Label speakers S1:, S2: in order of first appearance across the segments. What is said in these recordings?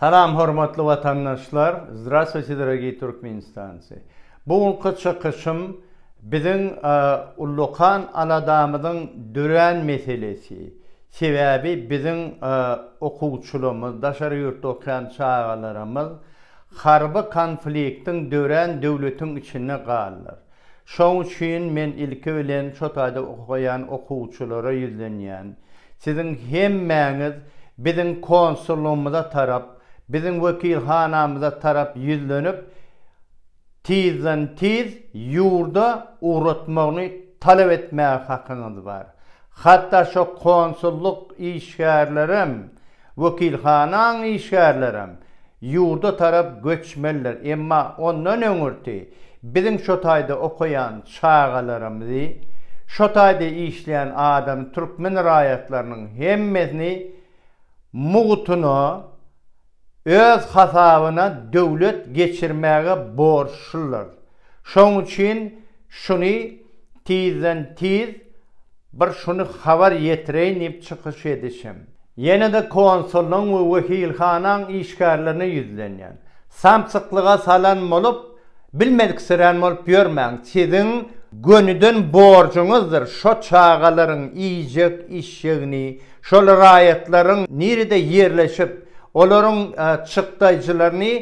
S1: Salam hormatly watandaşlar, Zdravstwuyte dorogiý Türkmenistancy! Bu günki çykyşym biziň ullakan aladamyzyň dörän meselesi, sebäbi biziň okuwçylarymyz, daşary ýurtda okaýan çagalarymyz harby konfliktiň dörän döwletiň içinde galdylar. Şoň üçin men ilki bilen şo taýda okaýan okuwçylara ýüzlenýän. Siziň hemmäňiz biziň konsullygymyza tarap, biziň wekilhanamyza tarap ýüzlenip, tizden-tiz ýurda ugratmagyny talap etmäge hakyňyz bar. Hatda şo konsullyk işgärlerem, Wekilhanaň işgärlerem ýurda tarap göçmelidir, emma ondan öňürti biziň şo taýda okaýan çagalarymyzy, şo taýda işleýän adamy türkmen raýatlarynyň hemmesini mugtuna öz hasabyna döwlet geçirmäge borçludyr. Şonuň üçin şuny tizden-tiz Bir şuny habar ýetireýin diýip çykyş edişim. Ýene-de konsullygyň we wekilhanaň işgärlerine ýüzlenýän. Samsyklyga salan bolup, bilmediksirän bolup ýörmäň. Siziň gönüden borjuňyzdyr şo çagalaryň iýjek işjegini, Şol raýatlaryň nirede ýerleşip, olaryň çykdaýjylaryny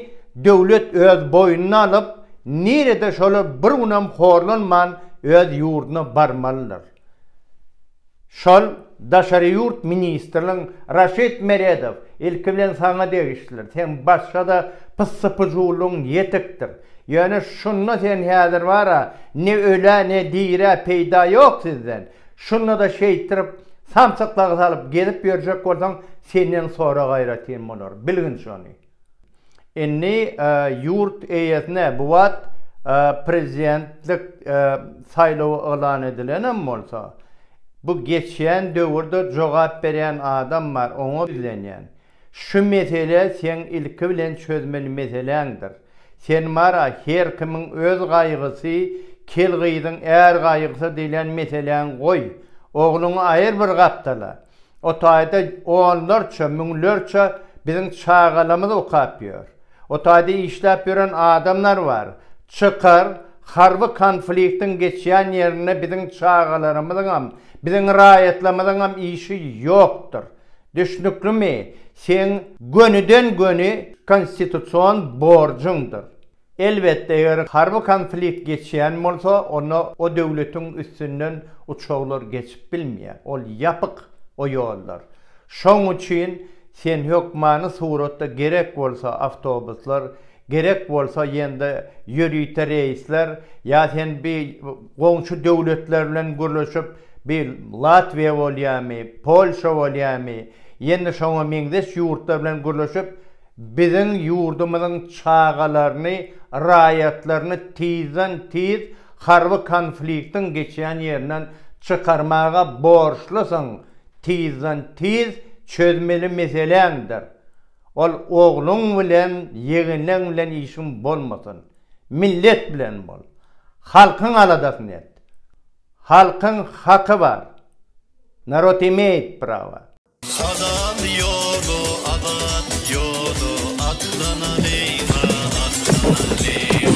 S1: döwlet öz boýnuna alyp, nirede şolar bir günem horlanman öz ýurduna barmalydyr. Şol daşary ýurt ministriniň Raşid Meredow, ilki bilen saňa degişlidir, seň başga-da pyssy-pyjuwlygyň ýetikdir. Ýöne şunda sen häzir bar-a, ne ölä, ne dirä peýda ýok sizden. Şunda-da şeýtdirip, samsyklygy salyp gezip ýörjek bolsaň, senden sorag aýratyn bolar, bilgin şony. Indi ýurt eýesine bu wagt prezidentlik saýlawy yglan edilenem bolsa, bu geçýän döwürde jogap berýän adam bar, oňa ýüzlenýän. Şu mesele seň ilki bilen çözmeli meseläňdir. Sen bar-a, her kimiň öz gaýgysy, kel gyzyň är gaýgysy diýlen meseläňi goý. Ogluňy aýyr bir gapdala. O taýda onlarça, müňlerçe biziň çagalamyz okap ýör. O taýda işläp ýören adamlar bar. Çykar, harby konfliktiň geçýän ýerinde biziň çagalarymyzyňam, biziň raýatlarymyzyňam işi ýokdur. Düşnüklimi, seň gönüden-göni konstitusion borjuňdyr. Elbetde, eger harby konflikt geçýän bolsa, onda o döwletiň üstünden uçaglar geçip bilmeýär. Ol ýapyk o ýollar. Şoň üçin sen hökmany suratda gerek bolsa awtobuslar Gerek bolsa ýende ýörite reýsler ýa sen bi goňşy döwletler bilen gürleşip bi Latwiýa bolýamy, Polşa bolýamy ýende şoňa meňzeş ýurtlar bilen gürleşip biziň ýurdumyzyň çagalaryny, raýatlaryny tizden tiz harby konfliktiň geçýän ýerinden çykarmaga borçlusyň tizden tiz çözmeli meseläňdir. Ol ogluň bilen ýeginleň bilen işiň bolmasyn. Millet bilen bol. Halkyň aladasyny et. Halkyň haky bar. Narod imeýt prawa. Halal ýoly azat ýoly atlanalýyňa atlanalýyň.